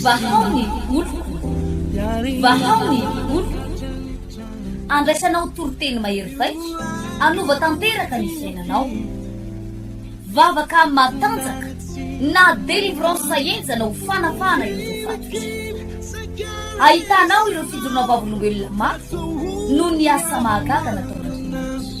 Vahao ny oloko, vahao ny oloko, andraisanao toriteny mahery vaika, hanova tanteraka ny fiainanao. Vavaka matanjaka na délivrance henjana ho fanafahana ireo fahatrisa. Ahitanao ireo fijoroana vavolombelona mafy noho ny asa mahagaga nataon'Andriamanitra.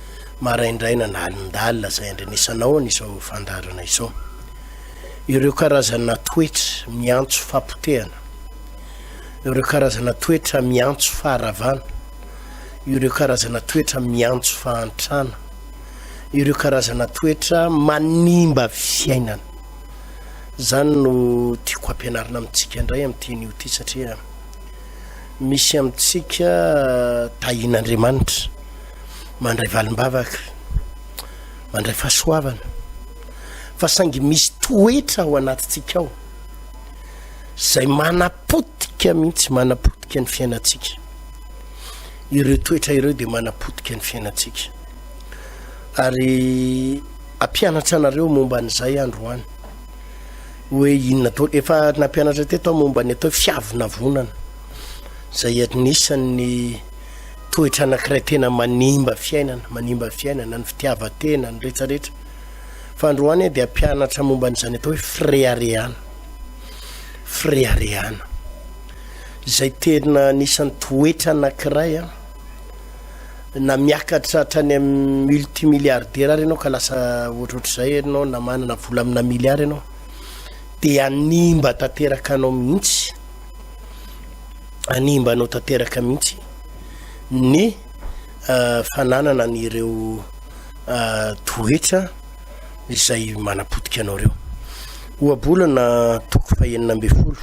maraindraina na alindalina izay andrenesana ao an'izao fandaharana izao. Ireo karazana toetra miantso fapotehana, ireo karazana toetra miantso faharavana, ireo karazana toetra miantso fahantrana, ireo karazana toetra manimba fiainana. Izany no tiako hampianarina amintsika indray amin'ity anio ity satria misy amintsika tahin'Andriamanitra. mandray valimbavaka, mandray fahasoavana, fa saingy misy toetra ao anatintsika ao izay manapotika mihitsy, manapotika ny fiainantsika. Ireo toetra ireo dia manapotika ny fiainantsika. Ary ampianatra anareo momba an'izay androany hoe inona to efa nampianatra teto aho momba ny atao hoe fiavonavonana izay anisan'ny Toetra anankiray tena manimba fiainana, manimba fiainana, ny fitiavan-tena, ny rehetra rehetra. Fa androany aho dia hampianatra momba an'izany atao hoe fireharehana. Fireharehana. Izay tena anisan'ny toetra anankiray an. Na miakatra hatrany amin'ny multimilliardaire ary ianao ka lasa ohatrohatr'izay ianao na manana vola amina milliard ianao dia hanimba tanteraka anao mihitsy. hanimba anao tanteraka mihitsy ny fananana an'ireo toetra izay manapotika anao ireo. Ohabolana toko fahenina ambin'ny folo,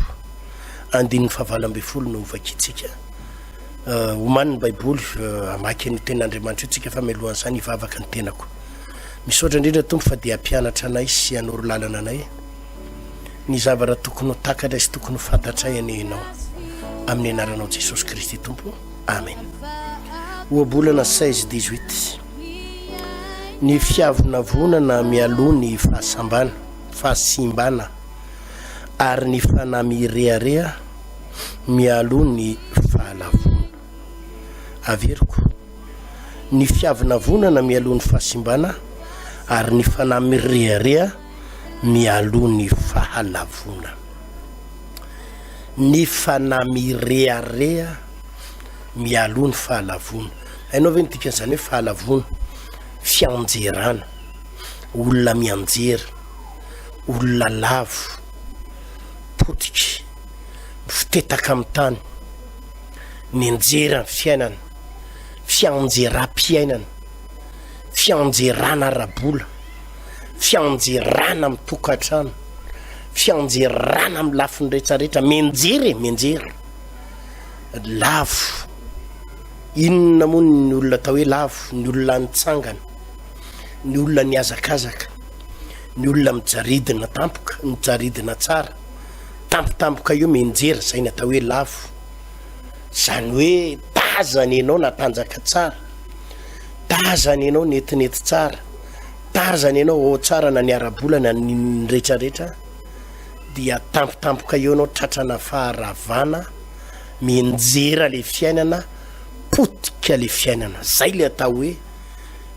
andininy fahavalo ambin'ny folo no vakintsika. Omanin'ny Baiboly, hamaky an'io tenan'Andriamanitra io tsika fa melohan'ny sainy hivavaka ny tenako. Misaotra indrindra Tompo fa dia hampianatra anay sy hanoro lalana anay. ny zavatra tokony ho takatray sy tokony ho fantatray anie ianao amin'ny anaranao Jesosy Kristy Tompo Amen ohabolana 16 18 ny fiavonavonana mialoha ny fahasambana fahasimbana ary ny fanahy mirehareha mialoha ny fahalavona averiko ny fiavonavonana mialoha ny fahasimbana ary ny fanahy mirehareha mialoha ny fahalavoana. Ny fanahy mirehareha mialoha ny fahalavoana. Hainao ve ny dikan'izany hoe fahalavoana? Fianjerana, olona mianjera, olona lavo, potika, mifotetaka amin'ny tany, mianjera ny fiainana, fianjeram-piainana, fianjerana ara-bola. Fianjerana amin'ny tokantrano, fianjerana amin'ny lafiny rehetrarehetra, mianjera e, mianjera. Lavo, inona moa ny olona atao hoe lavo? Ny olona nitsangana, ny olona nihazakazaka, ny olona mijaridina tampoka, mijaridina tsara. Tampotampoka io mianjera, izay ny atao hoe lavo. Izany hoe tazana ianao natanjaka tsara, tazana ianao netinety tsara. Tarzan ianao ao tsara na ny ara-bola na ny retraretra dia tampotampoka eo ianao tratrana faharavana mienjera le fiainana potika le fiainana zay le atao hoe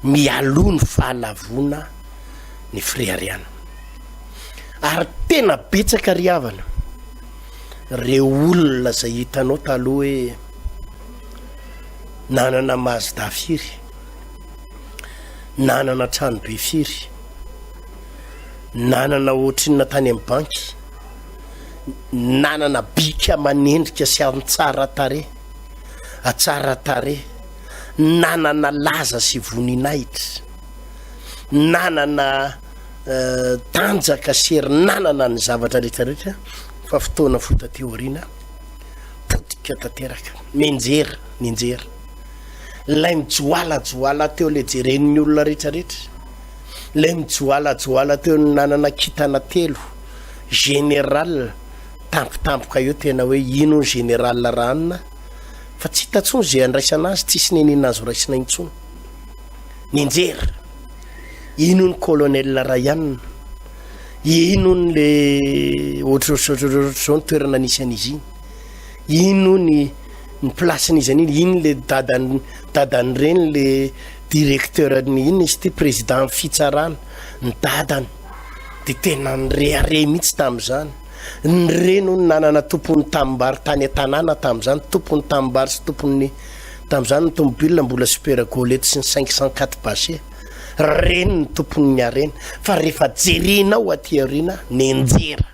mialoha ny fahalavona ny firehariana ary tena betsaka ry havana reo olona zay hitanao taloha hoe nanana mazda firy nanana trano be firy, nanana ohatrinona tany amin'ny banky, nanana bika aman'endrika sy amin'ny tsara tarehy, atsara tarehy, nanana laza sy voninahitra, nanana eh, tanjaka sy hery, nanana ny zavatra rehetrarehetra fa fotoana fohy taty aoriana potika tanteraka, nenjera, nenjera. Ilay mijoalajoala teo ilay jeren'ny olona rehetrarehetra. Ilay mijoalajoala teo ny nanana kintana telo. Général tampotampoka eo tena hoe ino ny général ranona fa tsy hita intsony izay andraisana azy, tsisy nenina azo raisina intsony. Nianjera, ino ny colonel Rayane, ino ny le ohatrohatrohatrohatr'izao ny toerana nisy an'izy iny, ino ny ny place n'izy an'iny iny le dadan dadan'ny reny le directeur ny inona izy ity président ny fitsarana ny dadany de tena nirehareha mihitsy tamin'izany ny reny hono nanana tompon'ny tanimbary tany an-tanàna tamin'izany tompon'ny tanimbary sy tompon'ny tamin'izany ny tomobile mbola super golety sy ny cinq cent quatre bache reny ny tompon'ny harena fa rehefa jerinao aty aoriana nenjera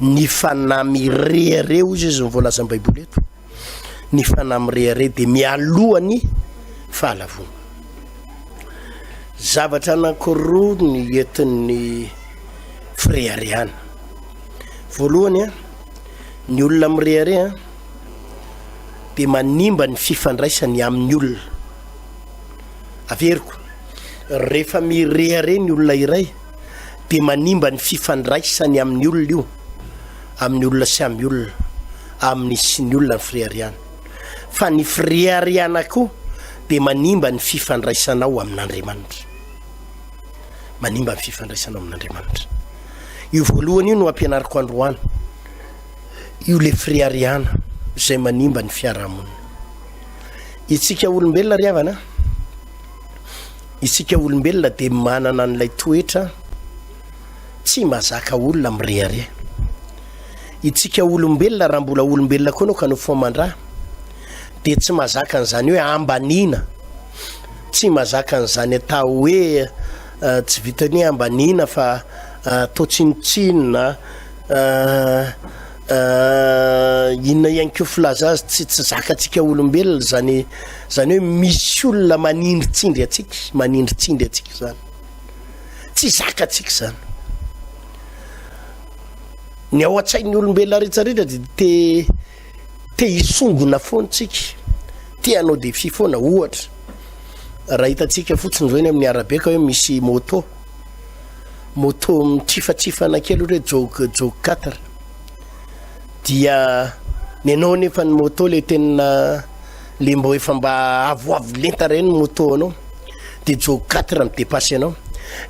ny fanahy mirehareha hoy izy ny voalazan'ny baiboly eto ny fanahy mirehareha dia mialohany fahalavona zavatra anankiroa ny entin'ny fireharehana voalohany a ny olona mirehareha dia manimba ny fifandraisany amin'ny olona averiko rehefa mirehareha ny olona iray dia manimba ny fifandraisany amin'ny olona io, amin'ny olona sy amin'ny olona, amin'ny sy ny olona ny firehariana. Fa ny firehariana koa dia manimba ny fifandraisanao amin'Andriamanitra. Manimba ny fifandraisanao amin'Andriamanitra. Io voalohany io no ampianariko androany. Io le firehariana izay manimba ny fiarahamonina. Itsika olombelona ry havana, Isika olombelona dia manana an'ilay toetra tsy mazaka olona mirehareha. Itsika olombelona raha mbola olombelona koa anao ka nofomandra dia tsy mazaka an'izany hoe ambaniana, tsy mazaka an'izany atao hoe eh, tsy vitan'ny hoe ambaniana fa eh, toa tsinontsinona eh, Ahh inona ihany ko filaza azy tsy tsy zakatsika olombelona zany zany hoe misy olona manindritsindry atsika manindritsindry atsika zany tsy zakatsika zany ny ao an-tsain'ny olombelona rehetrarehetra de te te hisongona foantsika te hanao défi foana ohatra raha hitantsika fotsiny zao eny amin'ny arabe ka hoe misy moto moto mitrifatrifana kely ohatry hoe jog jog quatre dia nenao nefa ny moto le tena le mbo efa mba avoavo lenta reny moto anao de jog quatre mi dépasse anao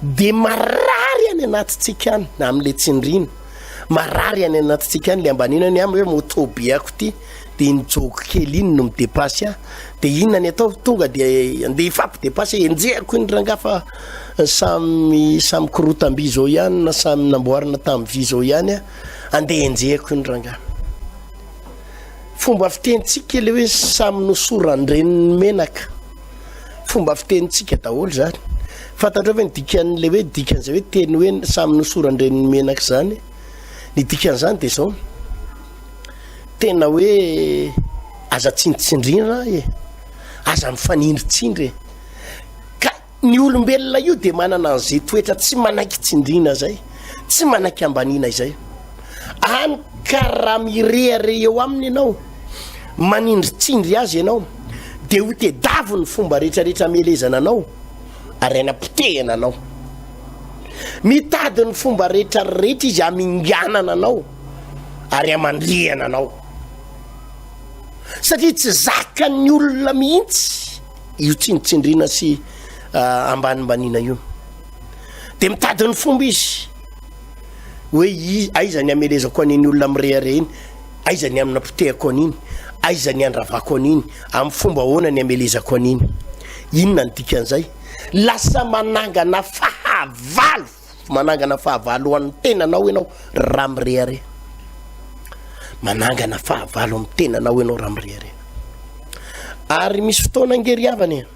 de marary any anatitsika any na amle tsindrina marary any anatitsika any le ambanina ny am hoe moto be ako ty Dia iny jogo kely iny no midepasy ahy. Dia inona ny ataovy? Tonga dia andeha hifampidepasy aho. Enjehako iny rangahy fa samy samy korotam-by izao ihany na samy namboarina tamin'ny vy izao ihany aho. Andeha enjehako iny rangahy. Fomba fitenintsika ilay hoe samy nosoran-dreniny menaka. Fomba fitenintsika daholo izany. Fantatrao ve ny dikan'ilay hoe dikan'izay hoe teny hoe samy nosoran-dreniny menaka izany? Ny dikan'izany dia izao. Tena hoe aza tsinontsindrina e, aza mifanindritsindry e. Ka ny olombelona io dia manana an'izay toetra tsy manaiky tsindrina zay, tsy manaiky ambaniana izay. Any ka raha mirehareha eo aminy ianao, manindritsindry azy ianao, dia ho tedavo ny fomba rehetrarehetra amelezana anao, ary aina potehana anao. Mitady ny fomba rehetrarehetra izy aminganana anao. ary aman-drihana anao satria tsy zakan'ny olona mihitsy io tsinontsindriana sy ah, ambanimbaniana io dia mitady ny fomba izy hoe aiza ny amelezako an'iny olona mirehareha iny aiza ny amina potehako an'iny aiza ny andravako an'iny amin'ny fomba ahoana ny amelezako an'iny inona ny dikan'izay lasa manangana fahavalo Manangana fahavalo ho an'ny tenanao ianao raha mirehareha. Manangana fahavalo amin'ny tenanao ianao raha mirehareha. Ary misy fotoana ange ry havana e.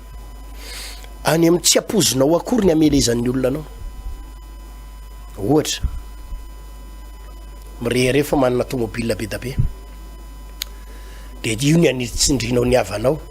Any amin'ny tsy ampoizinao akory ny amelezan'ny olona anao. Ohatra, mirehareha fa manana tomobile be da be. Dia io ny anitsindrinao ny havanao.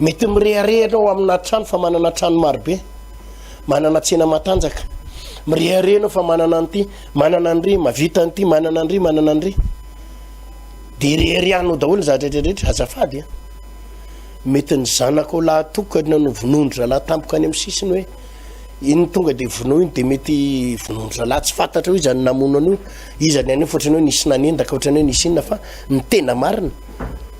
Mety mirehareha ianao amina trano fa manana trano marobe, manana tsena matanjaka. Mirehareha ianao fa manana an'ity, manana an'ry, mavita an'ity, manana an'ry, manana an'ry. Dia reharehanao daholo ny zavatra rehetrarehetra, azafady a. Mety ny zanakao lahatokana no vonoin-dry zalahy tampoka any amin'ny sisiny hoe iny tonga dia vonoa iny dia mety vonoin-dry zalahy tsy fantatra io izany namono an'io, iza ny an'io fa ohatrany hoe nisy nanendaka ohatrany hoe nisy inona fa ny tena marina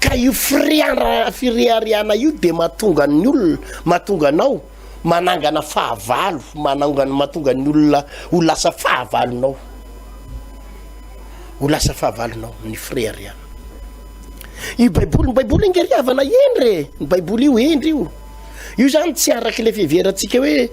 ka io fireharehana io dia mahatonga ny olona mahatonga anao manangana fahavalo manangana mahatonga ny olona ho lasa fahavalonao ho lasa fahavalonao ny fireharehana io baiboly ny baiboly ingery havana endry e ny baiboly io endry io io zany tsy araka ilay fiheverantsika hoe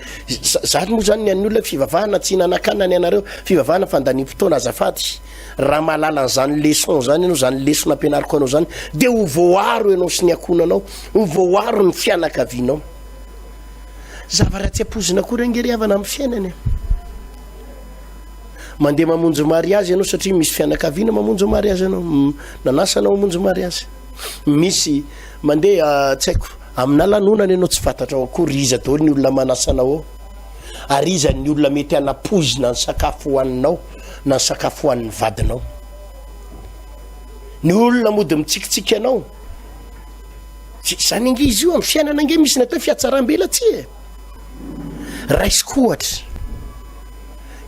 zany moa zany ny an'ny olona fivavahana tsy nanakana ny anareo fivavahana fandaniam-potoana azafady Raha mahalala an'izany leçon izany ianao, izany lesona ampianariko anao izany, dia ho voaro ianao sy ny ankohonanao, ho voaro ny fianakavianao. Zavatra tsy ampoizina akory ange ry havana amin'ny fiainana. Mandeha mamonjy mariazy ianao satria misy fianakaviana mamonjy mariazy ianao, m- nanasa anao hamonjy mariazy. Misy mandeha ah, tsy haiko, aminà lanonana ianao tsy fantatrao akory iza daholo ny olona manasa anao ao. Ary iza ny olona mety hanapoizina ny sakafo hohaninao. na ny sakafo hohanin'ny vadinao. Ny olona mody mitsikitsiky anao. Zany ange izy io amin'ny fiainana ange misy natao fiatsaram-bela tsy e. Raisiko ohatra.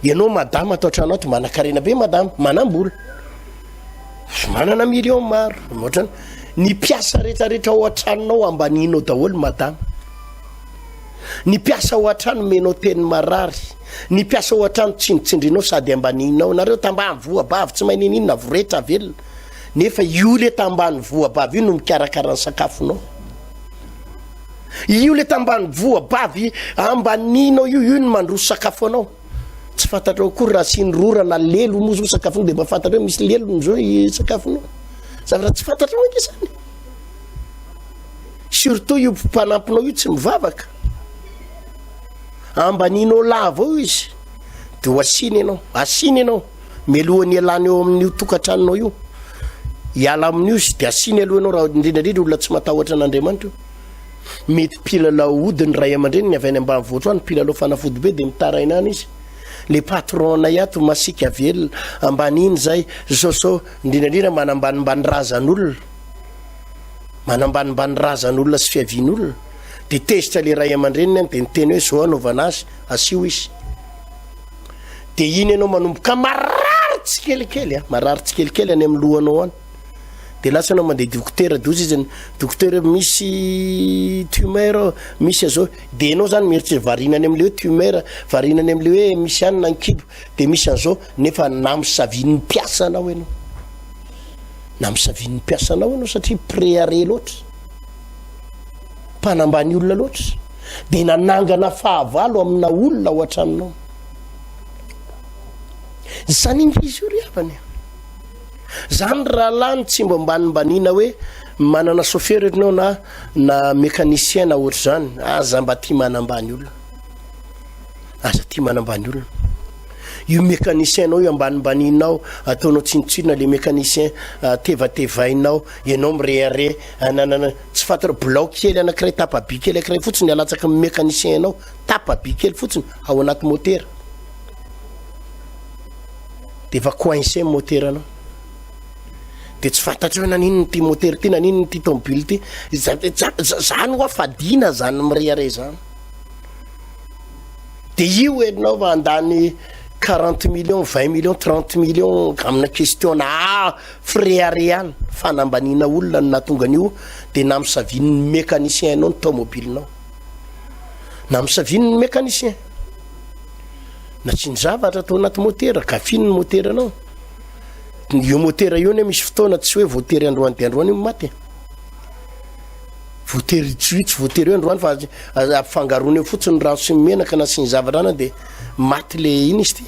Ianao madama atao tranao to manakarena be madama, manambola. Manana million maro, ohatrany. Ny mpiasa rehetrarehetra ao an-tranonao ambaninao daholo madama. Ny mpiasa ao an-trano menao teny marary. Ny mpiasa ao an-trano tsindritsindrinao sady ambanininao. Nareo tambany voabavy tsy mahay niniana voretra velona. Nefa io le tambany voabavy io no mikarakara ny sakafonao. Io le tambany voabavy ambanininao io io no mandroso sakafo anao. Tsy fantatrao akory raha asiany rora na lelo moa zao sakafonao dia mba fantatrao misy lelony zao i sakafonao. Zavatra tsy fantatrao ange izany. Surtout io mpanampinao io tsy mivavaka. Ambanin'Ollah avao io izy de ho asina ianao, asina ianao mialohan'ny hialana eo amin'io tokantranonao io, hiala amin'io izy de asina aloha ianao raha indrindra indrindra olona tsy matahotra an'Andriamanitra io. Mety mpilalao ody ny ray aman-dreniny avy any ambanivohitra any, mpilalao fanafody be de mitaraina any izy. Le patron-nay ato masiaka velona, ambaniny zay, zao zao, indrindra indrindra manambanimbany razan'olona, manambanimbany razan'olona sy fiavian'olona. dia tezitra le ray aman-dreniny any dia niteny hoe zao anaovana azy asio izy dia iny ianao manomboka marary tsikelikely a marary tsikelikely any amin'ny lohanao any dia lasa anao mandeha dokotera doza izy dokotera misy tumeur misy azao dia ianao zany mieritreritra varina any amin'le hoe tumeur varina any amin'le hoe misy any na nkibo dia misy an'izao nefa namisavian'ny mpiasa anao ianao namisavian'ny mpiasa anao ianao satria préaré loatra mpanambany olona loatra dia nanangana fahavalo amina olona ao an-tranonao zaniny izy io ry havany zany rahalahy ny tsy mba mbanimbaniana hoe manana sofera ianao na na mécanicien na ohatr'izany aza mba tia manambany olona aza tia manambany olona io mécanicien nao io ambanimbaninao ataonao tsinotsinona le mécanicien ah, tevatevainao ianao mirehareha Ananana, tsy fatra, blaoky kely anankiray tapa-by kely ankiray fotsiny alatsaky ny mécanicien anao, tapa-by kely fotsiny ao anaty motera. Dia efa coincé ny motera anao. Dia tsy fantatrao naninona ity motera ity, naninona ity tomobily ity. Zany hoa fadiana zany mirehareha izany. Dia io enao fa andany 40 millions, 20 millions, 30 millions amina question na Fireharehana, fanambaniana olona no nahatonga an'io dia namisavian'ny mécanicien anao ny taomobilinao. Namisavian'ny mécanicien. Nasiany zavatra tao anaty motera, gafiny ny moteranao. Io motera io ne misy fotoana tsy hoe voatery androany dia androany io maty. Voatery hitsohitsy, voatery hoe androany fa ampifangaroana eo fotsiny rano sy menaka nasiany zavatra anao dia maty le iny izy ty.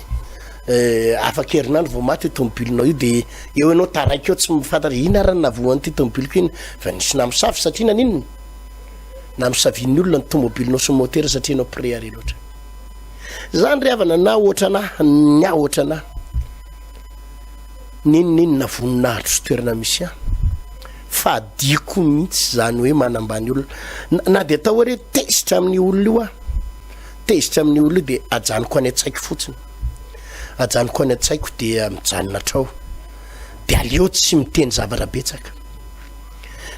Eh, afaka herinandro vao maty io tomobilinao io dia eo ianao taraiky eo tsy mifantatra hoe inona arany navohan'ity tomobiliko iny fa nisy namosavy satria naninona namosavian'ny olona ny tomobilinao sy motera satria ianao préare loatra zany ry havana na ohatra anahy ny aho ohatra anahy ninoninona voninahitro sy toerana misy ahy fa diako mihitsy zany hoe manambany olona na, na dia atao hoe re tezitra amin'ny olona io aho tezitra amin'ny olona io dia ajanoko any an-tsaiko fotsiny Ajanoko any an-tsaiko dia mijanona hatrao, dia aleo tsy miteny zavatra betsaka,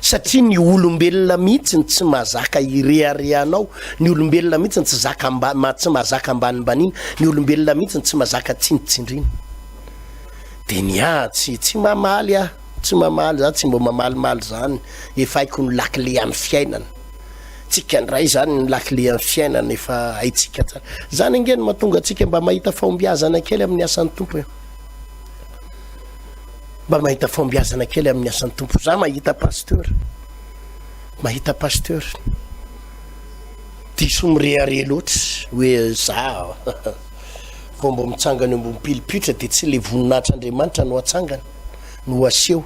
satria ny olombelona mihitsy no tsy mazaka hirehareha anao, ny olombelona mihitsy no tsy zaka mba tsy mazaka ambanimbaniana, ny olombelona mihitsy no tsy mazaka tsindritsindriana. Dia ny ahy tsy tsy mamaly aho, tsy mamaly, za tsy mba mamalimaly zany, efa haiko ny lakile an'ny fiainana. tsika ndray izany ny lakile an'ny fiainana efa haitsika tsara izany ange no mahatonga antsika mba mahita fahombiazana kely amin'ny asan'ny tompo e mba mahita fahombiazana kely amin'ny asan'ny tompo za mahita pasteur mahita pasteur diso mireare loatra hoe za vao mba mitsangana eo ambony pilipitra dia tsy le voninahitr'andriamanitra no atsangana no aseho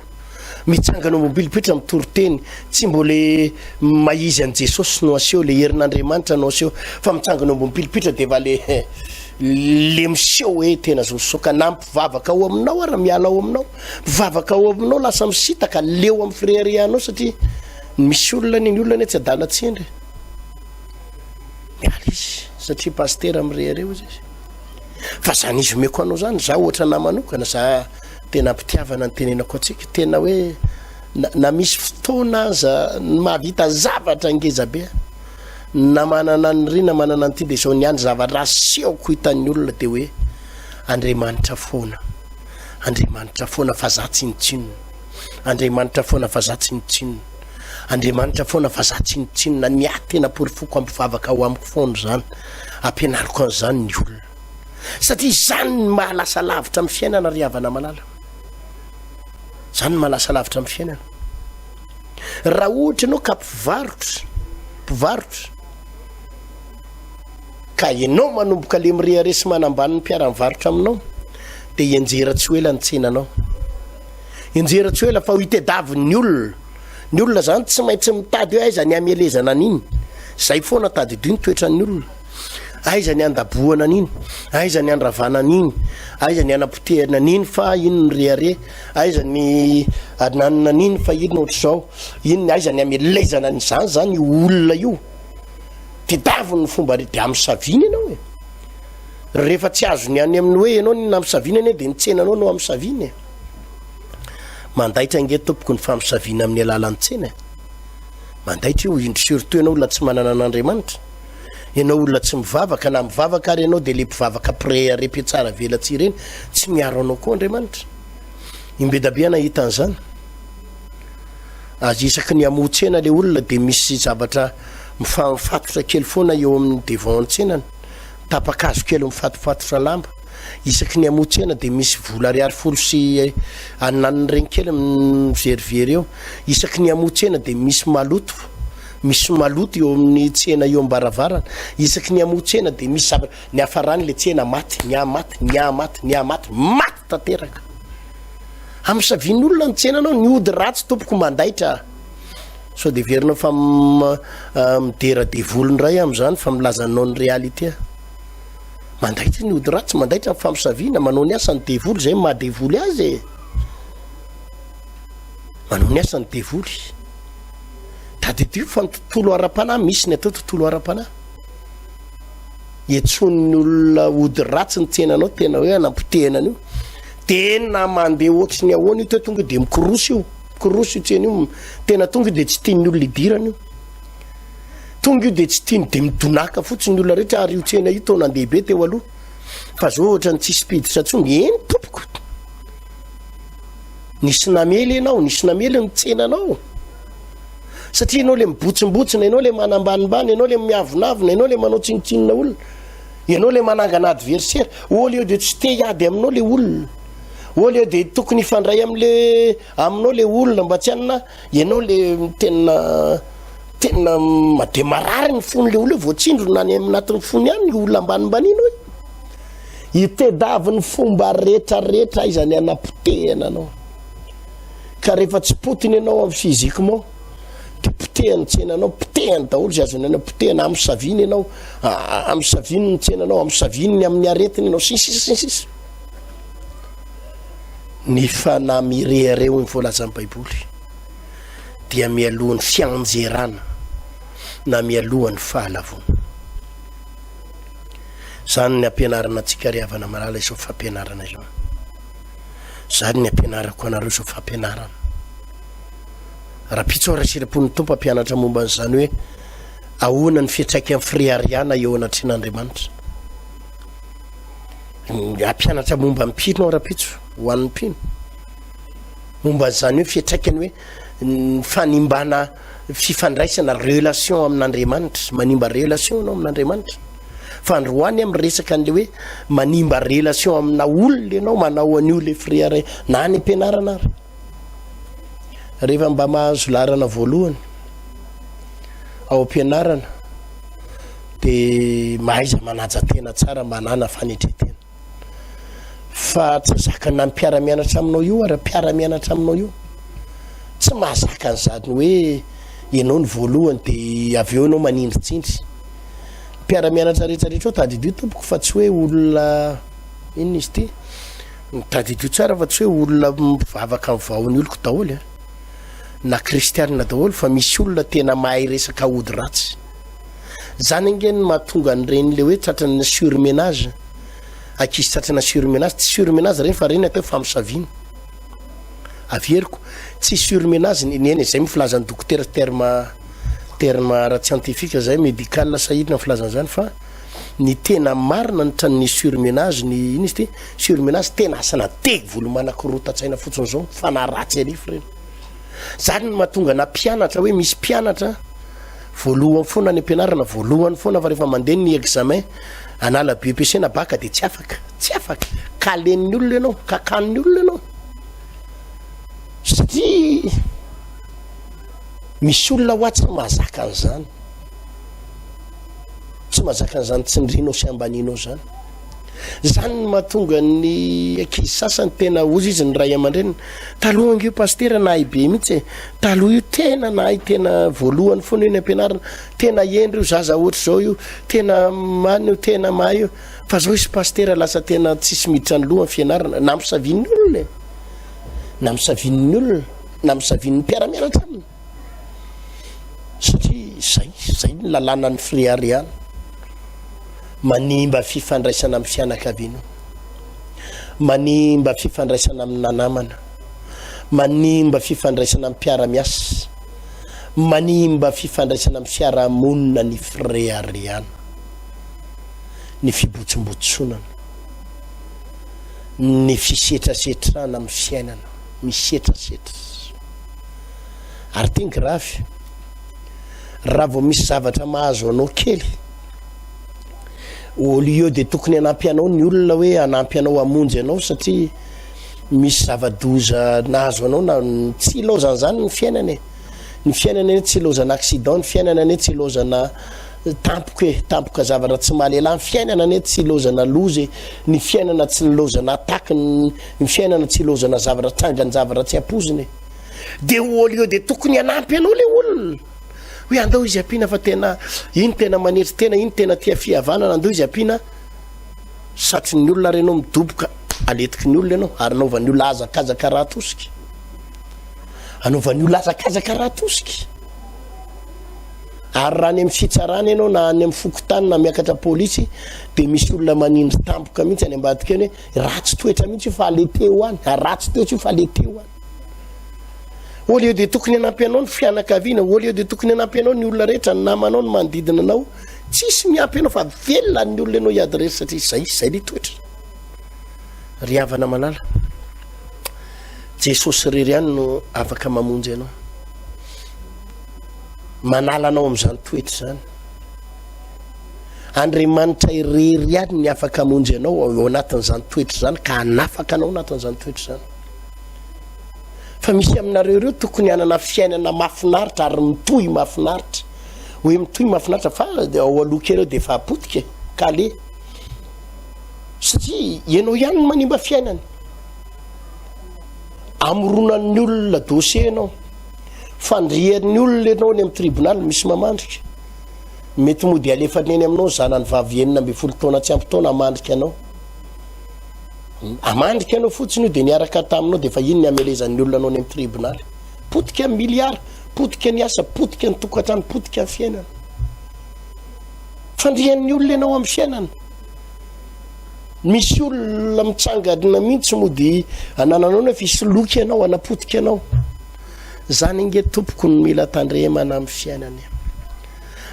Mitsangana mobily pretra mitory teny tsy mbo le mahizy an'i Jesosy no aseho le herin'Andriamanitra no aseho fa mitsangana mobily pretra de va le le miseho hoe tena zosoka na mpivavaka ao aminao ara miala ao aminao mpivavaka ao aminao lasa misitaka leo amin'ny fireharehanao satria misy olona ny ny olona ny tsy adala tsindry miala izy satria pastera mirehareo izy fa zany izy omeko anao zany za ohatra namanokana za tena mpitiavana ny tenenako antsika tena hoe na misy fotoana aza ny mahavita zavatra ngeza be na manana ny rina manana nyity de zao ny any zavatra aseoko hitan'ny olona de hoe andriamanitra foana andriamanitra foana fa za tsy nitsinona andriamanitra foana fa za tsy nitsinona andriamanitra foana fa za tsy nitsinona ny ahy tena porifoko ampivavaka ho amiko foana zany ampianariko an'izany ny olona satria izany ny maha lasa lavitra amin'ny fiainana ry havana malala izany ny maha lasa lavitra amin'ny fiainana raha ohatra ianao ka mpivarotra mpivarotra ka ianao manomboka le mireare sy manambany ny mpiara mivarotra aminao dia ianjera tsy ho ela ny tsenanao ianjera tsy ho ela fa ho itedavin'ny olona ny olona zany tsy maintsy mitady hoe aiza ny amelezana an'iny zay foana tadidio ny toetran'ny olona Aiza ny andabohana an'iny? Aiza ny andravana an'iny? Aiza ny anapotehana an'iny fa iny ny rehare? Aiza ny ananina an'iny fa iny ohatr'izao? Iny ny aiza ny amelezana an'izany zany io olona io? Tedaviny ny fomba re de amisavina ianao e. Rehefa tsy azony any amin'ny hoe ianao ny namisavina anie de ny tsenanao no amisavina e. Mandaitra ange tompoko ny famisavina amin'ny alalan'ny tsena e. Mandaitra io indry surtout ianao olona tsy manana an'Andriamanitra. Enao olona tsy mivavaka na mivavaka ary enao de le mpivavaka prea repe tsara velatsihy ireny tsy miaro anao koa Andriamanitra. Imbedabe aho nahita an'izany. Azy isaky ny hamoha tsena le olona de misy zavatra mifamifatotra kely foana eo amin'ny devant ny tsenany. Tapakazo kely mifatopatotra lamba. Isaky ny hamoha tsena de misy vola ariary folo sy ananiny regny kely mizerivery eo. Isaky ny hamoha tsena de misy maloto. Misy maloto eo amin'ny tsena eo am-baravarana. Isaky ny hamoha tsena dia misy zavatra niafarany ilay tsena, maty, nihamaty, nihamaty, nihamaty, maty tanteraka. Hamosavian'olona ny tsenanao, ny ody ratsy tompoko mandaitra a. Sao dia heverinao fa midera devoly indray amin'izany fa milaza anao ny réalité a. Mandaitra ny ody ratsy, mandaitra ny famosaviana, manao ny asan'ny devoly izay maha devoly azy e. Manao ny asan'ny devoly. Tadidio fa ny tontolo ara-panahy, misy ny atao tontolo ara-panahy. Iantsoan'ny olona ody ratsy ny tsenanao, tena hoe anampotehana an'io. Tena mandeha ohatry ny ahoana io te tonga dia mikorosy io. Mikorosy io tsena io. Tena tonga dia tsy tian'ny olona idirana io. Tonga io dia tsy tiany dia midonaka fotsiny olona rehetra ary io tsena io taona ndehibe teo aloha. Fa zao ohatra ny tsisy mpiditra tsony, eny tompoko. Nisy namely ianao, nisy namely ny tsenanao. Satria ianao le mibotsimbotsina, ianao le manambanimbany, ianao le miavonavona, ianao le manao tsinontsinona olona. Ianao le manangana adversaire. Au lieu de tsy te hiady aminao le olona. Au lieu de tokony hifandray amin'le aminao le olona mba tsy anona, ianao le tena tena made marary ny fon'le olona vao tsindrona any amin'atin'ny fony any olona ambanimbanianao. Itedavy ny fomba retraretra aiza ny anapotehana anao. Ka rehefa tsy potiny ianao amin'ny physiquement, dia potehany tsenanao, potehany daholo izay azony anao potehana, amin'ny saviny ianao, amin'ny saviny ny tsenanao, amin'ny saviny ny amin'ny aretiny ianao, sy ny sisa sy ny sisa. Ny fanahy mirehareha hoy ny voalazan'ny Baiboly dia mialohan'ny fianjerana na mialohan'ny fahalavoana. Zany ny ampianarana antsika ry havana malala izao fampianarana izao. Zany ny ampianarako anareo izao fampianarana. Rapitso Rasirapon ny tompo ampianatra momba an'izany hoe ahoana ny fiatraikan'ny firihariana eo anatrehan'Andriamanitra. Ampianatra momba ny mpino aho rapitso ho an'ny mpino. Momba an'izany hoe fiatraikany hoe ny fanimbana fifandraisana relation amin'Andriamanitra, manimba relation ianao amin'Andriamanitra. Fa androany amin'ny resaka an'ilay hoe manimba relation amina olona ianao manao an'io ilay frère na any am-pianarana ary. Rehefa mba mahazo laharana voalohany ao am-pianarana dia mahaiza manaja tena tsara manana fanetretena. Fa tsy azaka na mpiara-mianatra aminao io ara mpiara-mianatra aminao io tsy mahazaka an'izany hoe ianao ny voalohany dia avy eo ianao manindritsindry mpiara-mianatra rehetrarehetra eo tadidio tompoko fa tsy hoe olona inona izy ity tadidio tsara fa tsy hoe olona mivavaka ny vahony oloko daholo e na kristianina daholo fa misy olona tena mahay resaka ody ratsy Zany ange no mahatonga an'ireny le hoe tratran'ny surmenage. Ankizy tratrana surmenage, tsy surmenage ireny fa ireny atao hoe famosaviana. Averiko, tsy surmenage ny eny izay moa filazan'ny dokotera terme terme ara-tsiantifika izay médical sahirana ny filazana izany fa ny tena marina ny tran'ny surmenage ny iny izy ty surmenage tena asana devoly manakorotan-tsaina fotsiny izao fanaratsy an'ifo ireny. Zany no mahatonga na mpianatra hoe misy mpianatra Voalohany foana any ampianarana voalohany foana fa rehefa mandeha ny examen anala BEPC na baka dia tsy afaka tsy afaka kalen'ny olona ianao kakan'ny olona ianao satria misy olona hoa tsy mahazaka an'izany tsy mahazaka an'izany tsindrinao sy ambanianao zany Zany no mahatonga ny ankizy sasany tena ozy izy ny ray aman-dreniny. Taloha ange io pasitera nahay be mihitsy e. Taloha io tena nahay tena voalohany foana io ny ampianarina. Tena hendry io zaza ohatr'izao io. Tena many io, tena mahay io. Fa zao izy pasitera lasa tena tsisy miditra ny loha ny fianarana. Namisavian'ny olona e. Namisavian'ny olona, namisavian'ny mpiara-mianatra aminy. satria zay zay ny lalànan'ny frearial manimba fifandraisana amin'ny fianakaviana manimba fifandraisana amin'ny nanamana manimba fifandraisana amin'ny mpiaramiasa manimba fifandraisana amin'ny fiarahamonina ny frearial ny fibotsimbotsonana ny fisetrasetrana amin'ny fiainana misetrasetra Ary ity ny grafy. Raha vao misy zavatra mahazo anao kely, au lieu dia tokony hanampy anao ny olona hoe hanampy anao hamonjy anao satria misy zava-doza nahazo anao na tsy ilaozana izany ny fiainana e. Ny fiainana anie tsy ilaozana accident, ny fiainana anie tsy ilaozana tampoka e, tampoka zavatra tsy mahalehilahy, ny fiainana anie tsy ilaozana loza e, ny fiainana tsy nilaozana attaque ny Ny fiainana tsy ilaozana zavatra trangany zavatra tsy ampoizina e. Dia au lieu dia tokony hanampy anao le olona. Hoe andao izy ampiana fa tena iny tena manetry tena iny tena tia fihavanana andao izy ampiana. Satry ny olona ary ianao midoboka aletiky ny olona ianao ary naovan'ny olona azakazaka raha atosika. Anaovan'ny olona azakazaka raha atosika. Ary raha any amin'ny fitsarana ianao na any amin'ny fokontany na miakatra polisy dia misy olona manindry tampoka mihitsy any ambadika any hoe Ratsy toetra mihitsy io fa le teo any. Ratsy toetra io fa le teo any. Au lieu de tokony hanampy anao ny fianakaviana, au lieu de tokony hanampy anao ny olona rehetra, ny namanao, ny manodidina anao, tsisy miampy anao fa velona ny olona ianao hiadresy satria izay izay le toetra. Ry havana malala, Jesosy irery ihany no afaka mamonjy anao. Manala anao amin'izany toetra izany. Andriamanitra irery ihany ny afaka hamonjy anao ao anatin'izany toetra izany ka hanafaka anao anatin'izany toetra izany. Fa misy aminareo ireo tokony hanana fiainana mafinaritra ary mitohy mafinaritra. Hoe mitohy mafinaritra fa ao aloha kely dia efa apotika e. ka le satria ianao ihany no manimba fiainana. Amoronan'ny olona dossier ianao. Fandrian'ny olona ianao any amin'ny tribonaly misy mamandrika. Mety mody halefany eny aminao ny zanany vavy enina ambin'ny folo taona tsy ampy taona hamandrika anao. Hamandrika anao fotsiny io dia niaraka taminao dia efa iny ny hamelezan'ny olona anao any amin'ny tribonaly. Potika ny miliara, potika ny asa, potika ny tokantrano, potika ny fiainana. Fandrian'ny olona ianao amin'ny fiainana. Misy olona mitsangana mihitsy mody anananao nefa isoloky ianao, anapotika anao. Zany inge tompoko no mila tandremana amin'ny fiainana.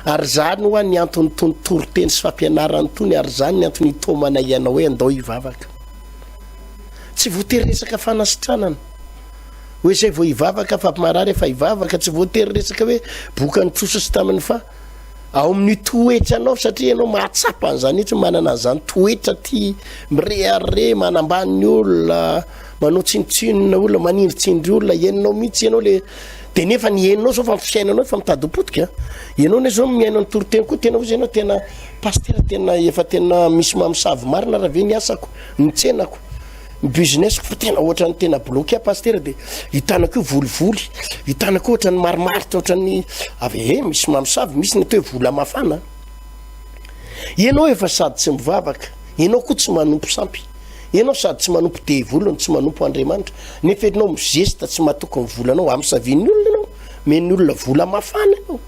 Ary izany hoa ny anton'itony toriteny sy fampianarana itony, ary izany ny antony itomanay anao hoe andao hivavaka. Tsy voatery resaka fanasitranana. Hoe izay vao hivavaka afa-marary efa hivavaka, tsy voatery resaka hoe bokany trosa sy taminy fa ao amin'ny toetra anao satria ianao mahatsapa an'izany etsy manana an'izany toetra ty mireharre manambany olona manao tsinotsinona olona manindritsindry olona ianao mihitsy ianao le de nefa ny henonao zao fa fiainanao efa mitadipotika ianao ne zao miaino ny toriteny koa tena ozy ianao tena pastera tena efa tena misy mamosavy marina raha ve ny asako ny tsenako ny businesseko fa tena ohatra ny tena bloqué pastera de hitanako io volivoly hitanako ohatra ny marimaritra ohatra ny avy e misy mamosavy misy ny atao hoe vola mafana ianao efa sady tsy mivavaka ianao koa tsy manompo sampy Ianao sady tsy manompo devoly no tsy manompo Andriamanitra, nefa ianao mizesta tsy matoky ny volanao, amisavian'ny olona ianao, men'ny olona vola mafana ianao.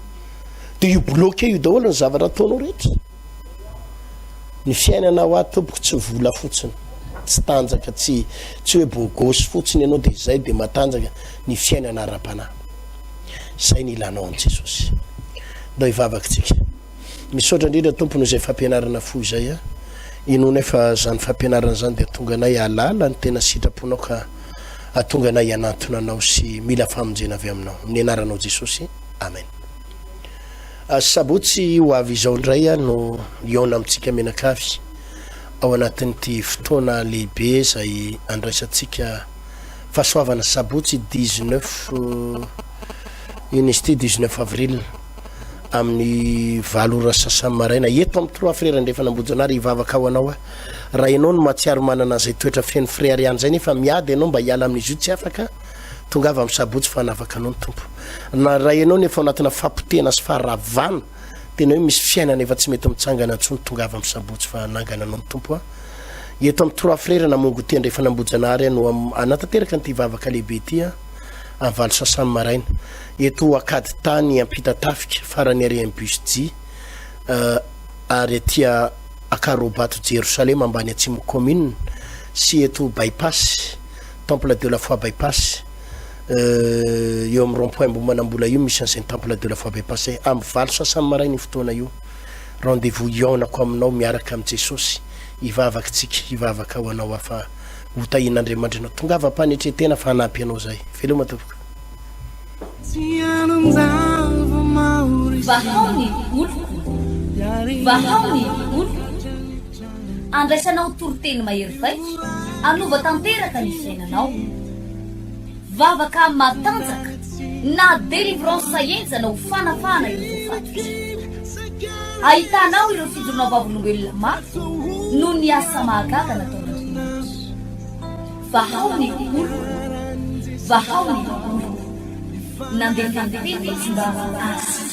Dia io bloqué io daholo ny zavatra ataonao rehetra. Ny fiainana hoa tompoko tsy vola fotsiny, tsy tanjaka, tsy tsy hoe bogosy fotsiny ianao dia izay dia matanjaka ny fiainana ara-panahy. Izay ny ilanao an'i Jesosy. Ndao hivavaka tsika. Misaotra indrindra Tompo noho izay fampianarana fo izay a. Inoanay fa izany fampianarana izany dia hatonga anay hahalala ny tena sitraponao ka hatonga anay hianantona anao sy mila famonjena avy aminao. Amin'ny anaranao Jesosy. Amen. Ah, sabotsy ho avy izao indray aho no hihaona amintsika mianakavy ao anatin'ity fotoana lehibe izay andraisantsika fahasoavana sabotsy 19 ino izy ity 19 avril amin'ny valo ora sasany maraina eto amin'ny Trois Frères Andrefana Ambohijanahary hivavaka ho anao aho. Raha ianao no mahatsiaro manana an'izay toetra feno frères ihany izay nefa miady ianao mba hiala amin'izy io tsy afaka, tongava amin'ny Sabotsy fa hanavaka anao ny Tompo. Na raha ianao no efa ao anatina fahapotehana sy faharavana, tena hoe misy fiainana efa tsy mety mitsangana intsony, tongava amin'ny Sabotsy fa hanangana anao ny Tompo a. Eto amin'ny Trois Frères Namongotia Andrefana Ambohijanahary aho no hanatanteraka an'ity vavaka lehibe ity a. amin'ny valo sasany maraina eto Ankady tany Ampitatafika farany ary amin'ny bus J ary aty Akarobato Jerosalema ambany Atsimo commune sy eto Bypass Temple de la Foi Bypass eo amin'ny rond-point Ambohimanambola io misy an'izay Temple de la Foi Bypass amin'ny valo sasany maraina io fotoana io rendez-vous hihaonako aminao miaraka amin'i Jesosy hivavaka tsika hivavaka ho anao afa ho tahian'Andriamanitrinao. Tongava am-panetren-tena fa hanampy anao izay. Veloma tompoko. Vahao ny oloko, vahao ny oloko, andraisanao toriteny mahery vaika, hanova tanteraka ny fiainanao. Vavaka matanjaka na délivrance enjana ho fanafahana ireo voafaty fizika. Ahitana ao ireo fijoroana vavolombelona mafy noho ny asa mahagaga nataon'Andriamanitra. Vahao ny olona, vahao ny olona. Nandefa ny tena izy mba hahazo azy.